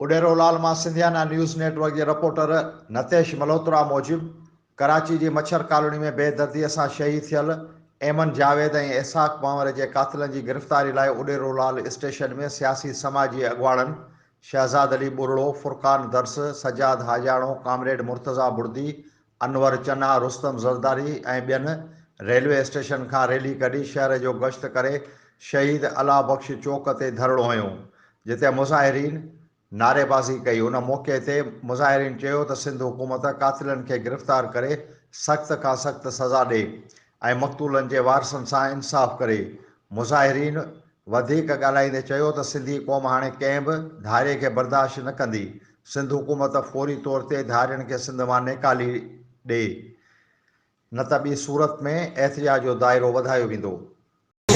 اڏيرو لال مان Sindhiana news network جي reporter Nitish Malhotra موجب ڪراچي جي مڇر ڪالوني ۾ بي دردي سان شهيد ٿيل ايمن جاويد ۽ اسحاق پنهور جي قاتلن جي گرفتاري لاء اڏيرو لال اسٽيشن ۾ سياسي سماجي اڳواڻن شهزاد علي ٻرڙو، فرقان درس، سجاد حاجاڻو، ڪامريڊ مرتضيٰ بڙدي، انور چنا، رستم زرداري ۽ ٻين ريلوي اسٽيشن کان ريلي ڪڍي شهر جو گشت ڪري شهيد الله بخش چوڪ تي ڌرڻو هنيو، جتي مظاهرين نعريبازي ڪئي، ان موقعي تي مظاهرين چيو ته سنڌ حڪومت قاتلن کي گرفتار ڪري سخت کان سخت سزا ڏي ۽ مقتولن جي وارثن سان انصاف ڪري، مظاهرين وڌيڪ ڳالهائيندي چيو ته سنڌي قوم هاڻي ڪنهن به ڌاري کي برداشت نه ڪندي، سنڌ حڪومت فوري طور تي ڌارين کي سنڌ مان نيڪالي ڏي نه ته ٻي صورت ۾ احتجاج جو دائرو وڌايو ويندو.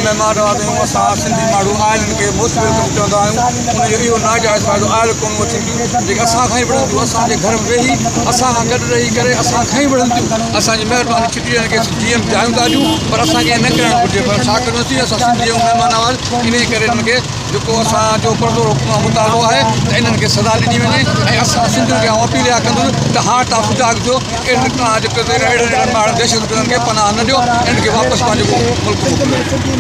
مهمان نوازي ۾ اسان سنڌي ماڻهو آئلن کي موسٽ ويلڪم چوندا آهيون، ان جو اهو ناجائز فائدو آئل قومون وٺين ٿيون جيڪي اسان کان ئي وڙهن ٿيون، اسان جي گهر ۾ ويهي، اسان کان گڏ رهي ڪري اسان کان ئي وڙهن ٿيون، اسان جي مهرباني. پيئڻ کي جي ايم چاهيون ٿا اچون پر اسان کي ائين نه ڪرڻ گهرجي پر ڇا ڪريون ٿي اسان سنڌي ۽ مهمان نواز انهي ڪري انهن کي جيڪو اسان جو پڙدو مطالبو آهي ته انهن کي سزا ڏني وڃي ۽ اسان سنڌين کي آئون اپيل اها ڪندس ته هاڻ توهان سجاڳ ٿيو اهڙن اهڙن ماڻهن دهشتگردن کي پناهه نه ڏيو انهن کي واپس پنهنجو ملڪ موڪليو